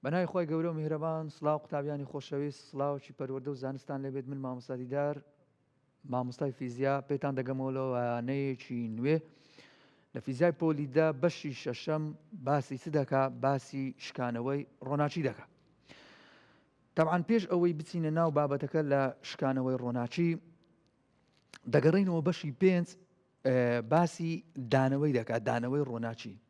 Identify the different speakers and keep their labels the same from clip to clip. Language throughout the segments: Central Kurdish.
Speaker 1: بەناوی خوای گەورە و میهرەبان سڵاو قوتابیانی خۆشەویست سڵاوەکی پەروەردە و زانستتان لێبێت من مامۆستا دیدار مامۆستای فیزیا پێتان دەگەمەوە لە وانەیەکی نوێ لە فیزای پۆلی دە بەشی شەشەم باسی چ دەکا باسی شکانەوەی ڕۆناچی دەکا تەعاان پێش ئەوەی بچینە ناو بابەتەکە لە شکانەوەی ڕۆناچی دەگەڕینەوە بەشی پێنج باسی دانەوەی دەکات دانەوەی ڕۆناچی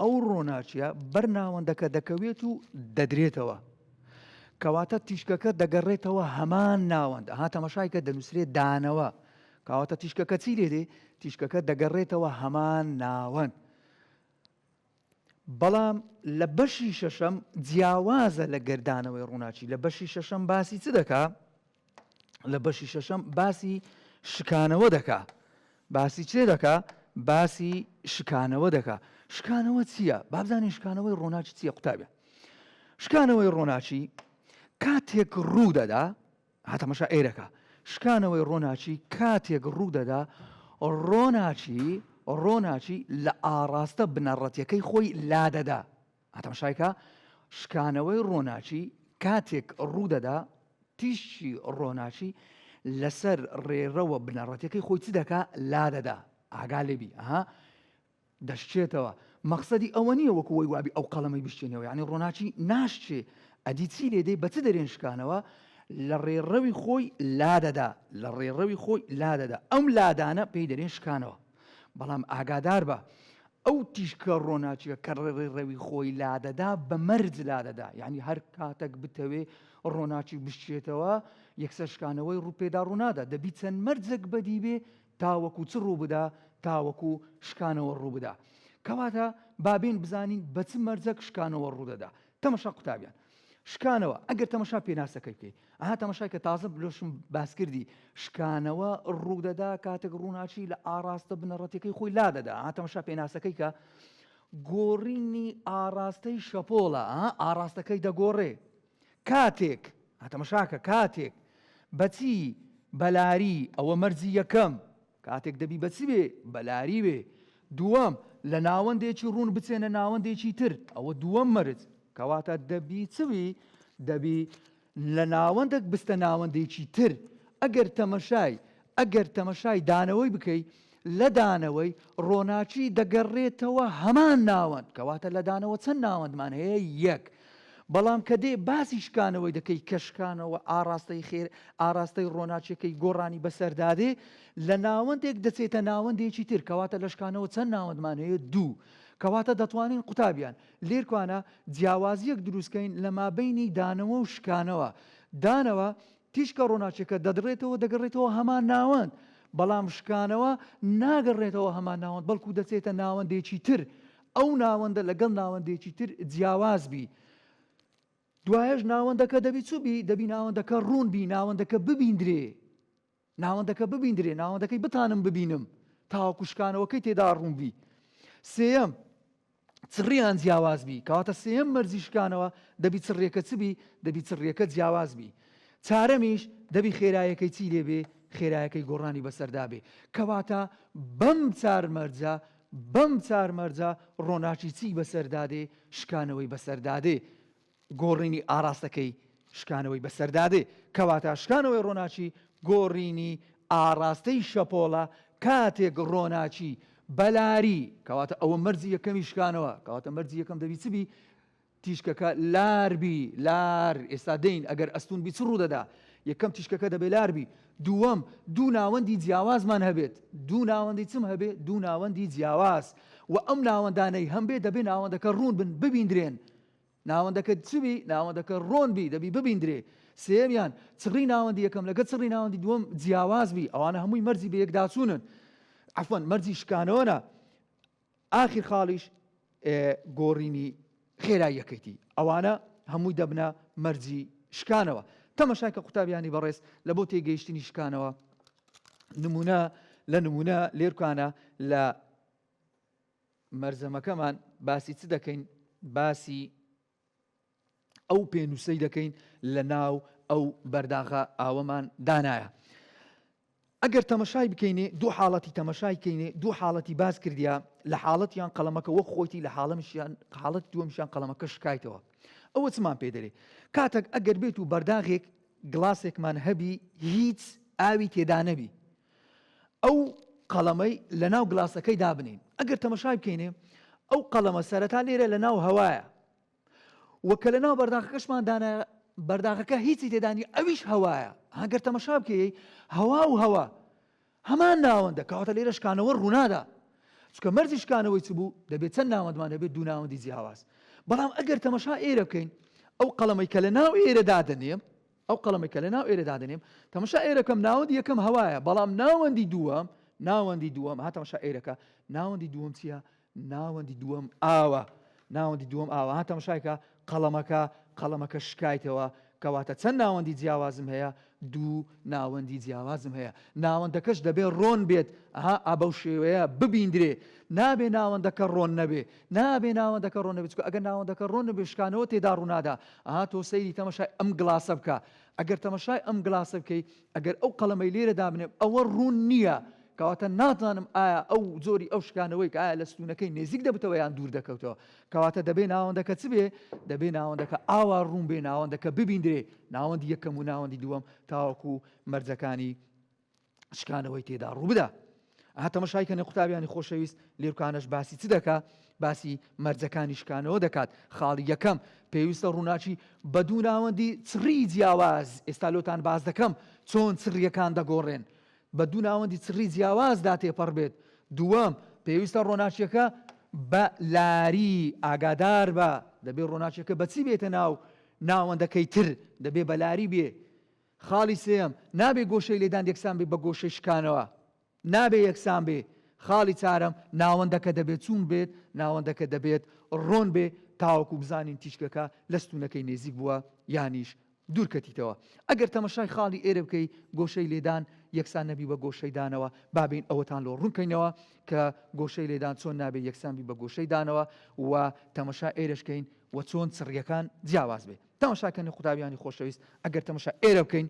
Speaker 1: ئەو ڕۆناچیە بەر ناوەندەکە دەکەوێت و دەدرێتەوە. کەواتە تیشکەکە دەگەڕێتەوە هەمان ناوەند ها تەمەشایکە دەنووسرێت دانەوە کاواتە تیشکەکە چی لێ دێ تیشکەکە دەگەڕێتەوە هەمان ناوەند بەڵام لە بەشی شەشەم جیاوازە لە گردانەوەی ڕووناچی لە بەشی شەشەم باسی چ دەکا لە بەشی شەشەم باسی شکانەوە دەکا باسی چێ دەکا باسی شکانەوە دەکا شکانەوە چییە بابزانین شکانەوەی ڕۆناچ چییە قوتابە شکانەوەی ڕۆناچی کاتێک ڕوو دەدا هاتەمەشا ئێرەکە شکانەوەی ڕۆناچی کاتێک ڕوو دەدا ڕۆناچی ڕۆناچی لە ئاڕاستە بنەڕەتەکەی خۆی لادەدا ئاتەمشای کا، شکانەوەی ڕۆناکی کاتێک ڕوو دەدا، تیشکی ڕۆناکی لەسەر ڕێڕەوە بنەڕەتیەکەی خۆی چ دەکا؟ لا دەدا. ئاگا لێ بی. ئەها. دەشکێتەوە. مەقسەدی ئەوە نیە وەکو وەی وابی ئەو قەڵەمەی بشکێنیەوە. یەعنی ڕۆناکی ناشکێ. ئەدی چی لێ دەی؟ بە چ دەرێن شکانەوە؟ لە ڕێڕەوی خۆی لا دەدا. لە ڕێڕەوی خۆی لا دەدا. ئەم لادانە پێی دەرێن شکانەوە. بەڵام ئاگاداربە ئەو تیشکە ڕۆناچیە کە ڕێڕێ ڕەوی خۆی لادەدا بە مەرج لادەدا یعنی هەر کاتەک بتەوێ ڕۆناچی بشچێتەوە یەکسەرشکانەوەی ڕوپێدا ڕوونادا دەبی چەند مەرجەک بەدیبێ تاوەکو چ ڕوو بدا تاوەکو شکانەوە ڕوو بدا کەواتە بابین بزانین بە چ مەرجەک شکانەوە ڕوودەدا تەمەشا قوتابیان شکانەوە ئەگەر تەمەشا پێناسەکەی بکەی ئەها تەمەشای کە تازە بلۆشم باسکردی شکانەوە ڕوودەدا کاتێک ڕووناچی لە ئاراستە بنەڕەتەکەی خۆی لا دەدا ئەها تەمەشا پێناسەکەی کە گۆڕینی ئاراستەی شەپۆڵە ئاراستەکەی دەگۆڕێ کاتێک هەتەمەشاکە کاتێک بەچی بەلاری ئەوە مەرجی یەکەم کاتێک دەبی بە چ بێ بە لاری بێ دووەم لە ناوەندێکی ڕوون بچێنە ناوەندێکی تر ئەوە دووەم مەرج کەواتە دەبی چ بی دەبی لە ناوەندەک بستە ناوەندێکی تر ئەگەر تەمەشای ئەگەر تەمەشای دانەوەی بکەی لە دانەوەی ڕۆناکی دەگەڕێتەوە هەمان ناوەند کەواتە لە دانەوە چەند ناوەندمان هەیە یەک بەڵام کە دێ باسی شکانەوەی دەکەی کە شکانەوە ئاڕاستەی خێر ئاراستەی ڕۆناچیەکەی گۆڕانی بەسەردادێ لە ناوەندێک دەچێتە ناوەندێکی تر کەواتە لە شکانەوە چەند ناوەندمان هەیە دوو کەواتە دەتوانین قوتابیان لێرکوانە جیاوازیەک دروستکەین لە مابینی دانەوە و شکانەوە دانەوە تیشکە ڕۆناچیەکە دەدڕێتەوە دەگەڕێتەوە هەمان ناوەند بەڵام شکانەوە ناگەڕێتەوە هەمان ناوەند بەڵکو دەچێتە ناوەندێکی تر ئەو ناوەندە لەگەڵ ناوەندێکی تر جیاواز بی دوایەش ناوەندەکە دەبی چ بی دەبی ناوەندەکە ڕوون بی ناوەندەکە ببیندرێ ناوەندەکە ببیندرێ ناوەندەکەی بتانم ببینم تاوەکوشکانەوەکەی تێدا ڕوون بی سێەم چڕیان جیاواز بی کەواتە سێم مەرزی شکانەوە دەبی چڕێکە چ بی دەبی چڕێکە جیاواز بی چارەمیش دەبی خێرایەکەی چی لێبێ خێرایەکەی گۆڕانی بەسەردا بێ کەواتە بەم چار مەرجە بەم چار مەرجە ڕۆناکی چی بەسەردا دێ، شکانەوەی بەسەردا دێ، گۆڕینی ئاڕاستەکەی شکانەوەی بەسەردا دێ. کەواتە شکانەوەی ڕۆناکی گۆڕینی ئاڕاستەی شەپۆڵە کاتێک ڕۆناکی بەلاری، کەواتە ئەوە مەرجی یەکەمی شکانەوە، کەواتە مەرجی یەکەم دەبی چ بی؟ تیشکەکە لار بی لار ئێستا دێین ئەگەر ئەستوون بی چ ڕوودەدا؟ یەکەم تیشکەکە دەبێ لار بی دووەم دوو ناوەندی جیاوازمان هەبێت دوو ناوەندی چم هەبێ دوو ناوەندی جیاواز وە ئەم ناوەندانەی هەم بێ دەبێ ناوەندەکە ڕوون بن ببیندرێن ناوەندەکە چ بی ناوەندەکە ڕۆن بی دەبی ببیندرێ سێمیان چڕی ناوەندی یەکەم لەگە چڕی ناوەندی دووەم جیاواز بی ئەوانە هەمووی مەرجی بە یەکداچوونن عفوەن مەرجی شکانەوەە ئاخر خاڵیش گۆڕینی خێراییەکەیتی، ئەوانە هەمووی دەبنە مەرجی شکانەوە. تەمەشا کە قوتابیانی بەڕێز لە بۆ تێگەیشتنی شکانەوە نموونە لە نموونە لێرکانە لە مەرزەمەکەمان باسی چ دەکەین باسی ئەو پێنووسەی دەکەین لە ناو ئەو بەرداغە ئاوەمان دانایە. ئەگەر تەمەشای بکەینێ دوو حاڵەتی تەمەشای کەینێ دوو حاڵەتی باز کردیا لە حاڵەتیان قەڵەمەکە وەک خۆیتی لە حاڵەمشیان حاڵەت دووەمشان قەڵەمەکە شکایتەوە ئەوە چمان پێ دەێ کاتەک ئەگەر بێت و بەرداغێک گڵاسێکمان هەبی هیچ ئاوی تێدانەبی ئەو قەڵەمەی لە ناو گڵاسەکەی دابنێین ئەگەر تەمەشای بکەینێ ئەو قەڵەمە سەرەتا لێرە لە ناو هەوایە وە کە لە ناو بەرداخەکەشمان دانا بەرداخەکە هیچی تێدانی ئەویش هەوایە هەگەر تەمەشا بکەی هەوا و هەوا هەمان ناوەندە کەواتە لێرە شکانەوە ڕوونادا چکە مەرجی شکانەوەی چ بوو دەبێت چەند ناوەندمان هەبێت دوو ناوەندی جیاواز بەڵام ئەگەر تەمەشا ئێرە بکەین ئەو قەڵەمەی کە لە ناو ئێرە دادەنێ ئەو قەڵەمەی کە لەناو ئێرە دادەنێم، تەمەشا ئێرەکەم، ناوەندی یەکەم هەوایە، بەڵام ناوەندی دووەم، ناوەندی دووەم، ها تەمەشا ئێرەکە، ناوەندی دووەم چییە؟ ناوەندی دووەم ئاوە، ناوەندی دووەم ئاوە، ها تەمەشای کە، قەڵەمەکە، قەڵەمەکە شکایتەوە، کەواتە چەند ناوەندی جیاوازم هەیە؟ دوو ناوەندی جیاوازم هەیە، ناوەندەکەش دەبێ ڕۆن بێت، ها ئا بەو شێوەیە ببیندرێ، نابێ ناوەندەکە ڕۆن نەبێ، نا ئەبێ ناوەندەکە ڕۆنەبێ چونکە ئەگەر ناوەندەکە ڕۆنەبێ شکانەوە تێدا ڕوونادا ئەها تۆ سەیری تەمەشای ئەم گڵاسە بکە ئەگەر تەمەشای ئەم گڵاسە بکەی ئەگەر ئەو قەڵەمەی لێرە دابنێم ئەوە ڕوون نییە کەواتە ناتوانم ئایا ئەو جۆری ئەو شکانەوەی کە ئایا لە ستونەکەی نێزیک دەبتەوە یان دوور دەکەوتەوە کەواتە دەبێ ناوەندەکە چ بێ دەبێ ناوەندەکە ئاوا ڕوون بێ ناوەندەکە ببیندرێ ناوەندی یەکەم و ناوەندی دووەم تاوەکو مەرجەکانی شکانەوەی تێدا ڕووبدا ئەها تەمەشای کەنێ قوتابیانی خۆشەویست لێرکانەش باسی چ دەکا باسی مەرجەکانی شکانەوە دەکات خاڵی یەکەم پێویستە ڕووناچی بە دوو ناوەندی چڕی جیاواز ئێستا لۆتان باز دەکەم چۆن چڕیەکان دەگۆڕێن بە دوو ناوەندی چڕی جیاوازدا تێپەڕ بێت دووەم پێویستە ڕۆناچیەکە بە لاری ئاگادار بە دەبێت ڕۆناچەکە بەچی بێتە ناو ناوەندەکەی تر دەبێ بەلاری بێ خاڵی سێیەم، نابێ گۆشەی لێدان یەکسان بێ بە گۆشەی شکانەوە. نابێ یەکسان بێ. خاڵی چارەم، ناوەندەکە دەبێ چوون بێت، ناوەندەکە دەبێت ڕۆن بێ تاوەکو بزانین تیشکەکە لە ستوونەکەی نێزیک بووە یانیش دوور کەتیتەوە. ئەگەر تەمەشای خاڵی ئێرە بکەی گۆشەی لێدان یەکسان نەبی بە گۆشەی دانەوە، با بێین ئەوەتان لۆ ڕوون کەینەوە کە گۆشەی لێدان چۆن نابێ یەکسان بی بە گۆشەی دانەوە و تەمەشا ئێرەش کەین و چۆن چڕییەکان جیاواز بێ. تەماشا کەن قوتابیانی خۆشەویست ئەگەر تەماشا ئێرە بکەین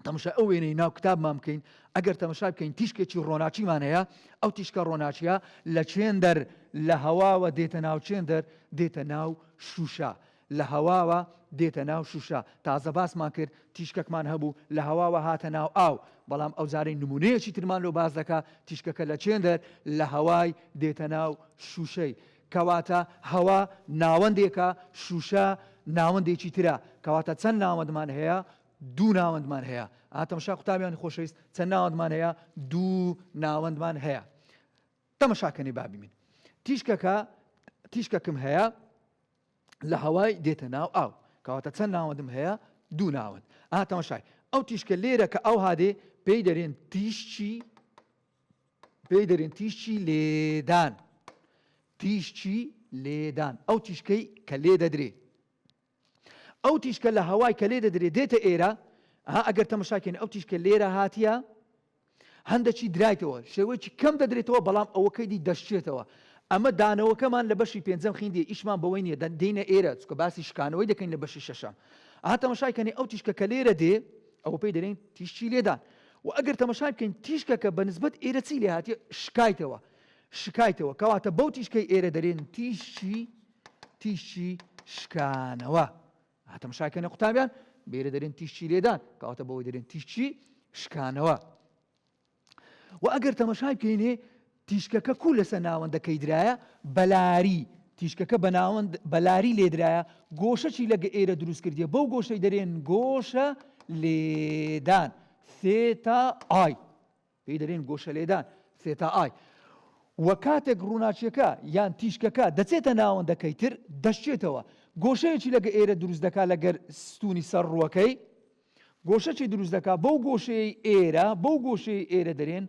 Speaker 1: تەماشا ئەو وێنەی ناو کتابمان بکەین ئەگەر تەماشا بکەین تیشکێکی ڕۆناچیمان هەیە ئەو تیشکە ڕۆناچیە لە چێن دەر لە هەواوە دێتە ناو چێن دەر دێتە ناو شوشە لە هەواوە دێتە ناو شوشە تازە باسمان کرد تیشکەکمان هەبوو لە هەواوە هاتە ناو ئاو بەڵام ئەو جارەی نمونەیەکی ترمان لۆ باز دەکە تیشکەکە لە چێندەر لە هەوای دێتە ناو شوشەی کەواتە هەوا ناوەندێکە، شووشە ناوەندێکی ترە، کەواتە چەند ناوەندمان هەیە؟ دوو ناوەندمان هەیە. ئا تەمەشا قوتابیانی خۆشەویست، چەند ناوەندمان هەیە؟ دوو ناوەندمان هەیە. تەمەشا کەنێ با بیمین. تیشکەکە تیشکەکم هەیە لە هەوای دێتە ناو ئاو. کەواتە چەند ناوەندم هەیە؟ دوو ناوەند. ئا تەمەشای ئەو تیشکە لێرە کە ئەو هادێ پێی دەرێن تیشکی پێی دەرێن تیشکی لێدان تیشکی لێدان ئەو تیشکەی کە لێ دەدرێ ئەو تیشکە لە هەوای کە لێ دەدرێ دێتە ئێرە ها ئەگەر تەمەشاکەین ئەو تیشکە لێرە هاتیە هەندەکی درایتەوە شێوەیەکی کەم دەدرێتەوە بەڵام ئەوەکەی دی دەشتێتەوە ئەمە دانەوەکەمان لە بەشی پێنجەم خیندی ئیشمان بەوەی نیە دەدەینە ئێرە چکە باسی شکانەوەی دەکەین لە بەشی شەشەم ئاتەمەشایکەنی ئەو تیشکە کە لێرە دێ ئەوە پێی دەێن تیشتی لێدان وە ئەگەر تەمەشای بکەین تیشکەکە بە نسبەت ئێرە چی لێ هاتیە شکایتەوە شکایتەوە کەواتە بەو تیشکەی ئێرە دەرێن تیشی تیشی شکانەوە هاتەمەشاکەنە قوتابیان بێرە دەرێن تیشی لێدان کەواتە بەوەی دەرێن تیشی شکانەوە و ئەگەر تەمەشای بکەینێ تیشکەکە کوو لەسە ناوەندە کەی درایە بەلاری تیشکەکە بە ناوەند بەلاری لێدرایە گۆشە چی لەگە ئێرە دروست کردیە بەو گۆشەی دەرێن گۆشە لێدان سێتا ئای پێی دەرێن گۆشە لێدان سێتا ئای وە کاتێک ڕووناچیەکە یان تیشکەکە دەچێتە ناوەندەکەی تر دەشتێتەوە گۆشەیەکی لەگە ئێرە دروست دەکات لەگەر ستونی سەر ڕووەکەی گۆشە چی دروست دەکا بەو گۆشەیەی ئێرە بەو گۆشەی ئێرە دەرێن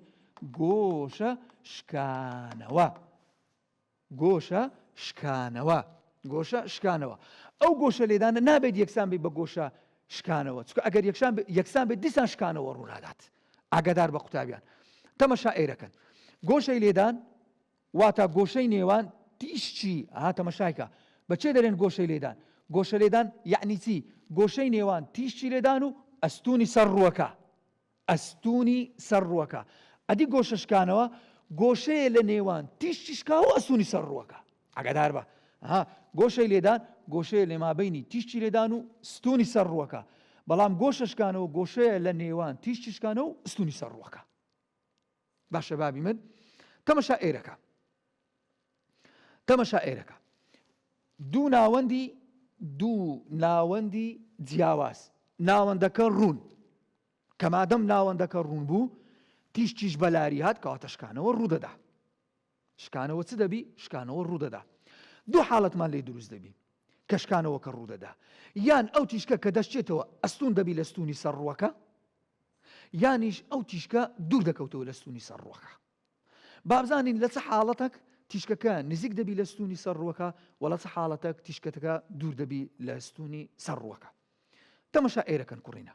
Speaker 1: گۆشە شکانەوە گۆشە شکانەوە گۆشە شکانەوە ئەو گۆشە لێدانە نابێت یەکسان بی بە گۆشە شکانەوە چکە ئەگەر یەکسان یەکسان بێت دیسان شکانەوە ڕوونادات ئاگادار بە قوتابیان تەمەشا ئێرەکەن گۆشەی لێدان واتا گۆشەی نێوان تیش چی؟ ئەها تەمەشای کە. بە چێ دەرێن گۆشەی لێدان؟ گۆشەلێدان یەعنی چی؟ گۆشەی نێوان تیشی لێدان و ئەستوونی سەر ڕووەکە. ئەستوونی سەر ڕووەکە. ئەدی گۆشە شکانەوە؟ گۆشەیە لە نێوان تیشی شکاو و ئەستوونی سەر ڕووەکە. ئاگادار بە. ئەها گۆشەی لێدان گۆشەیە لە مابەینی تیشی لێدان و ستوونی سەر ڕووەکە. بەڵام گۆشە شکانەوە گۆشەیە لە نێوان تیشی شکانەوە و ئەستوونی سەر ڕووەکە. باشە بابی من تەمەشا ئێرەکە تەمەشا ئێرەکە دوو ناوەندی دوو ناوەندی جیاواز ناوەندەکە ڕوون کەمادەم ناوەندەکە ڕوون بوو تیشتیش بەلاری هات کەواتەشکانەوە ڕوودەدا شکانەوە چ دەبی؟ شکانەوە ڕوودەدا دوو حاڵەتمان لێ دروست دەبی کە شکانەوەکە ڕوودەدا یان ئەو تیشکە کە دەشتێتەوە ئەستون دەبی لە ستونی سەر ڕووەکە یانیش ئەو تیشکە دوور دەکەوتەوە لە ستونی سەر ڕووەکە بابزانین لە چ حاڵەتەک تیشکەکە نزیک دەبی لە ستونی سەر ڕووەکە وە لە چ حاڵەتەک تیشکەتەکە دوور دەبی لە ستونی سەر ڕووەکە تەمەشا ئێرەکەن کوڕینە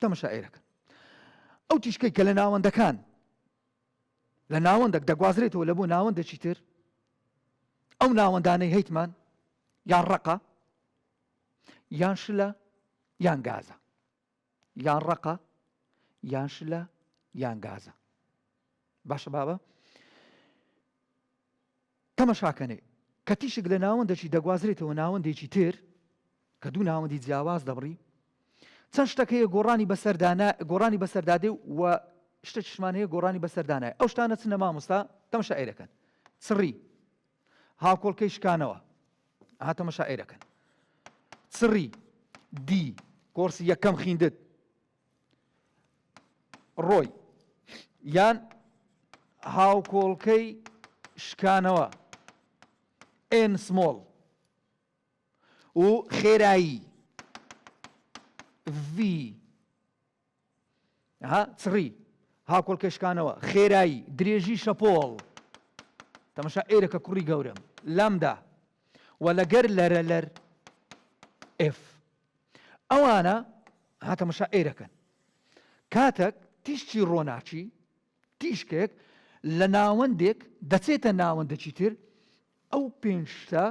Speaker 1: تەمەشائەیلەکەن ئەو تیشکەی کە لە ناوەندەکان لە ناوەندەک دەگوازرێتەوە لە بۆ ناوەندەکی تر ئەو ناوەندانەی هەیتمان یان ڕقە یان شلە یان گازە یان ڕقە یان شلە یان گازە باشە بابە تەمەشاکەنێ، کە تیشک لە ناوەندەکی دەگوازرێتەوە ناوەندێکی تر، کە دوو ناوەندی جیاواز دەبڕی، چەند شتەک هەیە گۆڕانی بەسەردا نا گۆڕانی بەسەردا دێ و شتەکیشمان هەیە گۆڕانی بەسەردا نایە، ئەو شتانە چنە مامۆستا؟ تەمەشائیرەکەن. چڕی. هاوکۆڵکەی شکانەوە. ئەها تەمەشائیرەکەن. چڕی. دی. کۆرسی یەکەم خیندت. ڕۆی یان هاوکۆڵکەی شکانەوە ئێن سمۆڵ و خێرایی ڤی چڕی هاکۆڵکەشکانەوە خێرایی درێژی شەپۆڵ تەمەشا ئێرەکە کوڕی گەورم لامدا و لەگەر لەرە لەر ئف ئەوانە ها تەمەشا ئێرەکەن کاتەک تیشکی ڕۆناچی تیشکێک لە ناوەندێک دەچێتە ناوەندەکی تر ئەو پێنجتە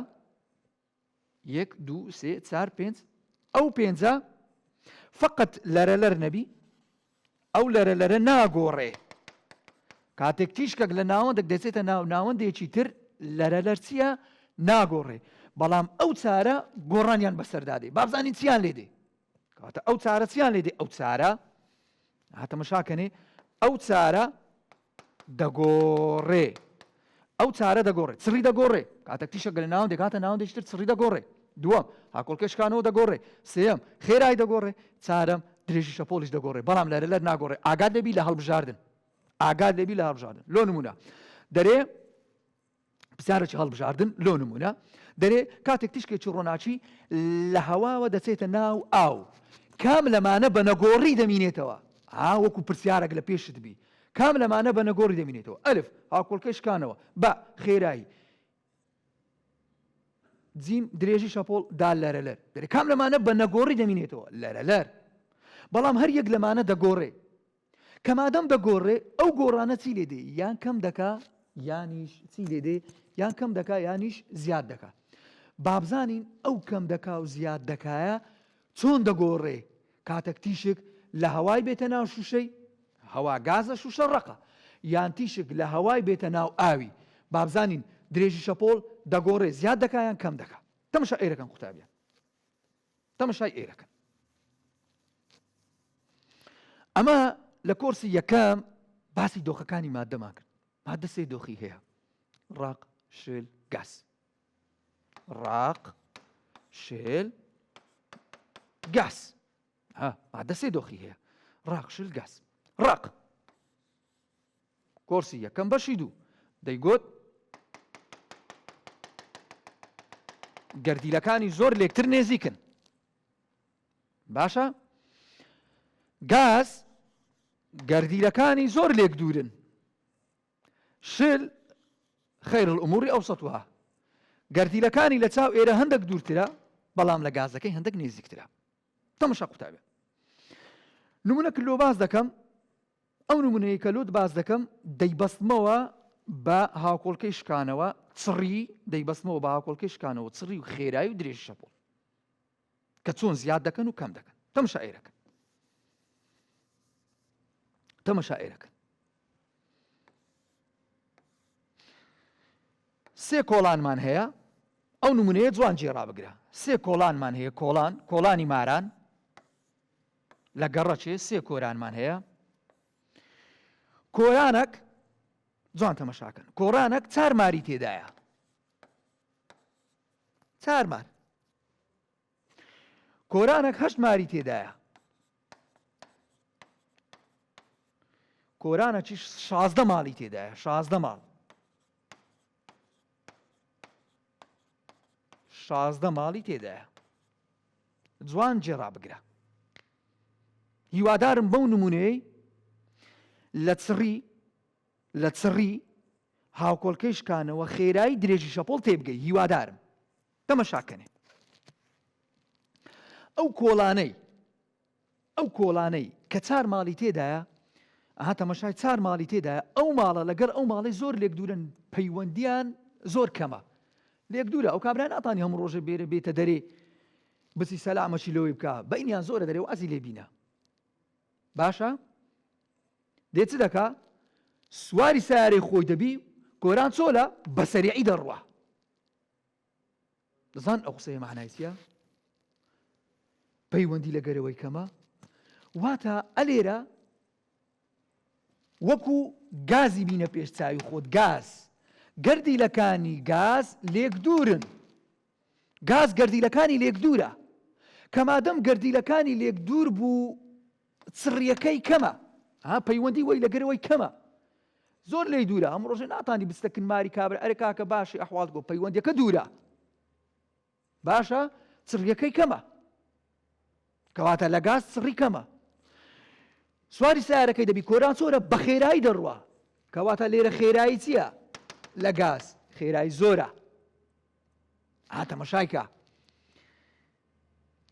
Speaker 1: یەک دو سێ چار پێنج ئەو پێنجە فقط لەرە لەر نەبی ئەو لەرە لەرە ناگۆڕێ. کاتێک تیشکەک لە ناوەندێک دەچێتە ناو ناوەندێکی تر لەرە لەرچیە ناگۆڕێ بەڵام ئەو چارە گۆڕانیان بەسەردادێ بابزانین چیان لێ دێ کاتە ئەو چارە چیان لێ دێ ئەو چارە هاتەمەشاکەنێ ئەو چارە دەگۆڕێ ئەو چارە دەگۆڕێ چڕی دەگۆڕێ کاتەک تیشەکە لە ناوەندێک هاتە ناوەندێکتر چڕی دەگۆڕێ دووەم هاکۆڵکە شکانەوە دەگۆڕێ سێەم خێرای دەگۆڕێ چارەم درێژی شەپۆلیش دەگۆڕێ بەڵام لەرە لەر ناگۆڕێ ئاگات لەبی لە هەڵبژاردن ئاگات لەبی لە هەڵبژاردن لۆ نمونە دەرێ پرسیارێکی هەڵبژاردن لۆ نمونە دەرێ کاتێک تیشکێکی ڕۆناچی لە هەواوە دەچێتە ناو ئاو کام لەمانە بە نەگۆڕی دەمینێتەوە ئا وەکو پرسیارێک لە پێشت بی کام لەمانە بە نەگۆڕی دەمینێتەوە ئەلف هاکۆڵکەی شکانەوە بە خێرایی جیم درێژی شەپۆڵ دا لەرەلەر دەرێ کام لەمانە بە نەگۆڕی دەمینێتەوە لەرەلەر بەڵام هەر یەک لەمانە دەگۆڕێ کە مادەم دەگۆڕێ ئەو گۆڕانە چی لێ دێ یان کەم دەکا یانیش چی لێ دێ یان کەم دەکا یانیش زیاد دەکا بابزانین ئەو کەم دەکا و زیاد دەکایە چۆن دەگۆڕێ کاتەک تیشک لە هەوای بێتە ناو شوشەی هەوا گازە شوشە ڕقە یان تیشک لە هەوای بێتە ناو ئاوی بابزانین درێژی شەپۆل دەگۆڕێ زیاد دەکایان کەم دەکا تەمشا ئێرەکەم قوتابیان تەمەشای ئێرەکەن ئەمە لە کۆرسی یەکەم باسی دۆخەکانی مادەمان کرد مادە سێ دۆخی هەیە ڕاق شل گاز ڕاق شل گاز مادە سێ دۆخی هەیە ڕاق شل گاز ڕق کۆرسی یەکەم بەشی دوو دەیگوت. گەردیلەکانی زۆر لێکتر نێزیکن باشە گاز گەردیلەکانی زۆر لێک دوورن شل خیر الاموری ئەو سەتوها گەردیلەکانی لە چاو ئێرە هەندێک دوورترە بەڵام لە گازەکەی هەندێک نێزیکترە تەمەشا قوتابێ نمونە کللۆ باز دەکەم ئەو نمونەیەی کە لۆت باس دەکەم دەیبەستمەوە بە هاوکۆڵکەی شکانەوە چڕی دەیبەستمەوە بە هاوکۆڵکەی شکانەوە چڕی و خێرایی و درێژ شەپۆڵ کە چۆن زیاد دەکەن و کەم دەکەن تەم شاعرەکە تەمە شاعرەکە سێ کۆڵانمان هەیە ئەو نمونەیە جوان جێ ڕابگرە سێ کۆڵانمان هەیە کۆڵان کۆڵانی ماران لە گەڕەکێ سێ کۆرانمان هەیە کۆرانەک جوان تەمەشاکەن کۆرانەک چار ماری تێدایە چار مار کۆرانەک هەشت ماری تێدایە کۆرانەکیش شازدە ماڵی تێدایە شازدە ماڵ شازدە ماڵی تێدایە جوان جێ ڕابگرە هیوادارم بەو نمونەیەی لە چڕی لە چڕی هاوکۆڵکەی شکانەوە خێرایی درێژی شەپۆڵ تێبگەی هیوادارم تەمەشاکەنێ ئەو کۆڵانەی ئەو کۆڵانەی کە چار ماڵی تێدایە ئەها تەمەشای چار ماڵی تێدایە ئەو ماڵە لەگەر ئەو ماڵی زۆر لێک دوورن پەیوەندیان زۆر کەمە لێک دوورە ئەو کابرا ناتانی هەموو ڕۆژە بێرە بێتە دەرێ بچی سەلامەشی لەوەی بکە بەینیان زۆرە دەرێ وازی لێ بینە باشە دێ چ دەکا سواری سارەی خۆی دەبی گۆران چۆلە بەسەریعی دەڕوە دەزان ئەو قسەیە معنای چیە پەیوەندی لە گەرەوەی کەمە واتە ئەلێرە وەکو گازی بینە پێش چاوی خۆت گاز گەردیلەکانی گاز لێک دوورن گاز گەردیلەکانی لێک دوورە کەمادەم گەردیلەکانی لێک دوور بوو چڕیەکەی کەمە ها پەیوەندی وەی لەگەرەوەی کەمە زۆر لێی دوورە هەم ڕۆژێ ناتانی بستەکن ماری کابرا ئەرێ کاکە باشی ئەحواڵ گۆ پەیوەندەکە دوورە باشە چڕیەکەی کەمە کەواتە لە گاز سڕی کەمە سواری سارەکەی دەبی کۆران چۆرە بە خێرایی دەڕوە کەواتە لێرە خێرایی چییە لە گاز خێرایی زۆرە ئاتەمەشایکە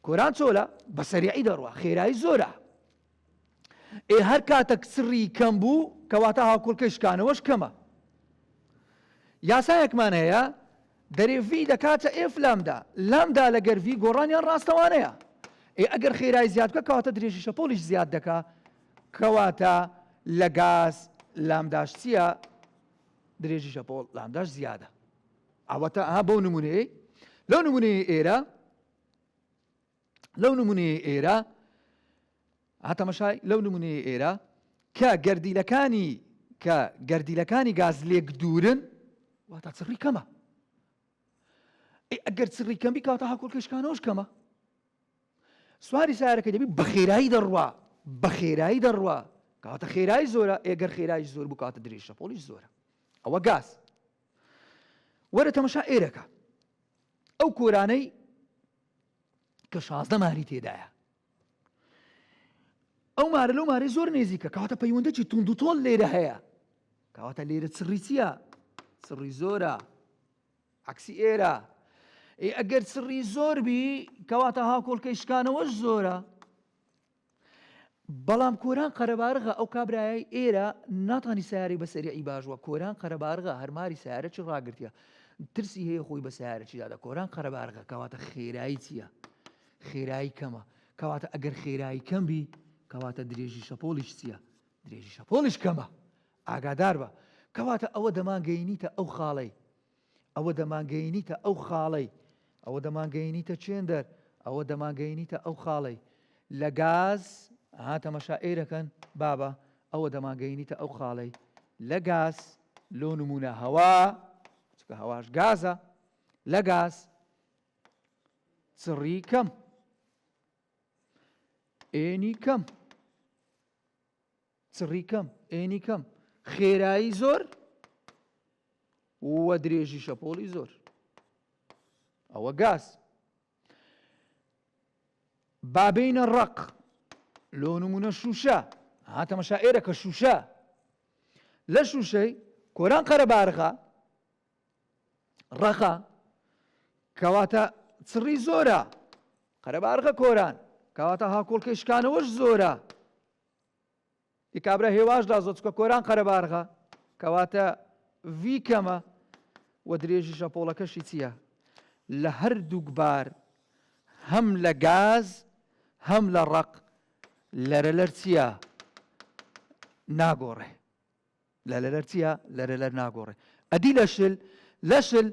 Speaker 1: کۆران چۆلە بە سەریعی دەڕوا خێرایی زۆرە ئێ هەر کاتەک سڕی کەم بوو کەواتە هاوکۆڵکەی شکانەوەش کەمە یاسایەکمان هەیە دەرێ ڤی دەکاتە ئێف لامدا لامدا لەگەر ڤی گۆڕانیان ڕاستەوانەیە ئێ ئەگەر خێرای زیاد بکە کەواتە درێژی شەپۆلیش زیاد دەکا کەواتە لە گاز لامداش چییە درێژی شەپۆڵ لامداش زیادە ئەوەتا ئەها بەو نموونەیەی لەو نموونەیە ئێرە لەو نموونەیە ئێرە هاتەمەشای لەو نموونەیە ئێرە کە گەردیلەکانی کە گەردیلەکانی گاز لێک دوورن واتە چڕی کەمە ئەگەر چڕی کەمی کاتە هاکۆکەشکانەوەش کەمە سواری سارەکە دەبی بە خێرایی دەڕوا بە خێرایی دەڕوا کاتە خێرای زۆرە ئێگەر خێرای زۆر بکاتە درێژە پۆلیش زۆرە ئەوە گاز وەرە تەمەشا ئێرەکە ئەو کۆرانەی کە شازدە ماری تێدایە ئەو مارە لەو مارەی زۆر نێزیکە کەواتە پەیوەندەکی تونند و تۆل لێرە هەیە کەواتە لێرە چڕی چییە چڕی زۆرە عکسی ئێرە ئەگەر چڕی زۆر بی کەواتە هاکۆڵکەی شکانەوەش زۆرە بەڵام کۆران قەرەبارغە ئەو کابرایەی ئێرە ناتانی سەیارەی بە سەریعی باش وە کۆران قەرەبارغە هەر ماری سەیارەچی ڕاگرتیە ترسی هەیە خۆی بە سەیارەچی دادە کۆران قەرەبارغە کەواتە خێرایی چییە خێرایی کەمە کەواتە ئەگەر خێرایی کەم بی کەواتە درێژی شەپۆلیش چییە درێژی شەپۆلیش کەمە ئاگادار بە کەواتە ئەوە دەمانگەینیتە ئەو خاڵەی ئەوە دەمانگەینیتە ئەو خاڵەی، ئەوە دەمانگەینیتە چێندەر، ئەوە دەمانگەینیتە ئەو خاڵەی لە گاز، ئەها تەمەشا ئێرەکەن بابە، ئەوە دەمانگەینیتە ئەو خاڵەی لە گاز، لۆ نموونە هەوا، چونکە هەواش گازە، لە گاز چڕی کەم، ئێنی کەم. چڕی کەم ئێنی کەم خێرایی زۆر وە درێژی شەپۆڵی زۆر ئەوە گاز بابینە ڕق لۆ نمونە شوشە هاتەمەشا ئێرە کە شوشە لە شوشەی کۆران قەرەبارغا ڕەقا کەواتە چڕی زۆرە قەرەبارغە کۆران کەواتە هاکۆڵکەشکانەوەش زۆرە ی کابرا هێواش دازۆ چکە کۆران قەرەبارغە کەواتە ڤی کەمە و درێژی شەپۆڵەکەشی چییە لە هەردووک بار هەم لە گاز هەم لە ڕق لەرە لەرچە ناگۆڕێ لەرەلەر چیە لەرەلەر ناگۆڕێ ئەدی لەشل لەشل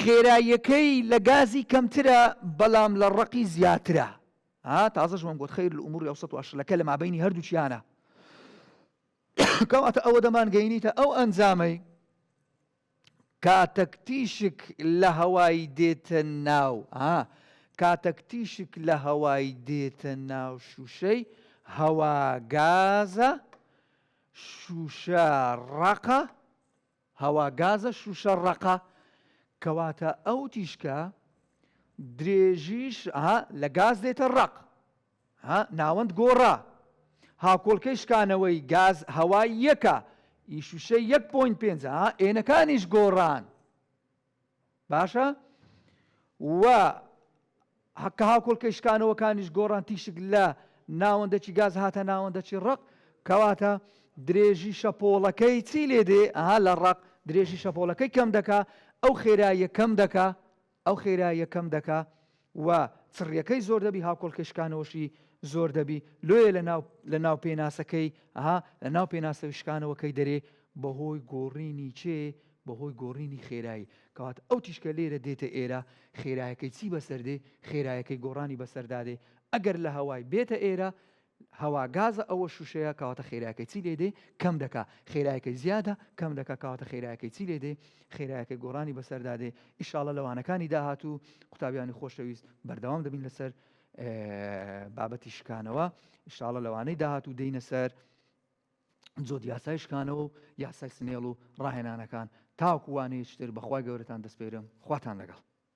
Speaker 1: خێراییەکەی لە گازی کەمترە بەڵام لە ڕەقی زیاترە ها تازەش وەم گوت خیر لە ئوموری ئەوسەت واشلەکە لە مابینی هەردووچیانە کەواتە ئەوە دەمان گەینیتە ئەو ئەنجامەی کاتەک تیشک لە هەوای دێتە ناو ها کاتەک تیشک لە هەوای دێتە ناو شووشەی هەوا گازە شووشە ڕەقە هەوا گازە شووشە ڕەقە کەواتە ئەو تیشکە درێژیش ها لە گاز دێتە ڕق ها ناوەند گۆڕا. هاکۆڵکەی شکانەوەی گاز هەوا یەکە ی شوشەی یەک پۆینت پێنج ها ئێنەکانیش گۆڕان باشە و حەکە هاکۆڵکەی شکانەوەکانیش گۆڕان تیشک لە ناوەندەکی گاز هاتە ناوەندەکی ڕق کەواتە درێژی شەپۆڵەکەی چی لێ دێ ئەها لە ڕق درێژی شەپۆڵەکەی کەم دەکا ئەو خێراییە کەم دەکا ئەو خێراییە کەم دەکا و چڕیەکەی زۆر دەبی هاوکۆڵکەی شکانەوەشی زۆر دەبی لۆیە لەناو لەناو پێناسەکەی ها لەناو پێناسەوەی شکانەوەکەی دەرێ بەهۆی گۆڕینی چێ بەهۆی گۆڕینی خێرایی کەواتە ئەو تیشکە لێرە دێتە ئێرە خێرایەکەی چی بەسەردێ خێرایەکەی گۆڕانی بەسەردادێ ئەگەر لە هەوای بێتە ئێرە هەوا گازە ئەوە شوشەیە کەواتە خێرایەکەی چی لێ دێ کەم دەکا خێرایەکەی زیادە کەم دەکا کەواتە خێرایەکەی چی لێ دێ خێرایەکەی گۆڕانی بەسەردا دێ ئیشاڵە لەوانەکانی داهاتوو قوتابیانی خۆشەویست بەردەوام دەبین لەسەر بابەتی شکانەوە ئیشاڵە لەوانەی داهاتوو دێینە سەر جۆت یاسای شکانەوە و یاسای سنێڵ و ڕاهێنانەکان تاوکووانەیەشتر بەخوای گەورەتان دەستپێرم خواتان لەگەڵ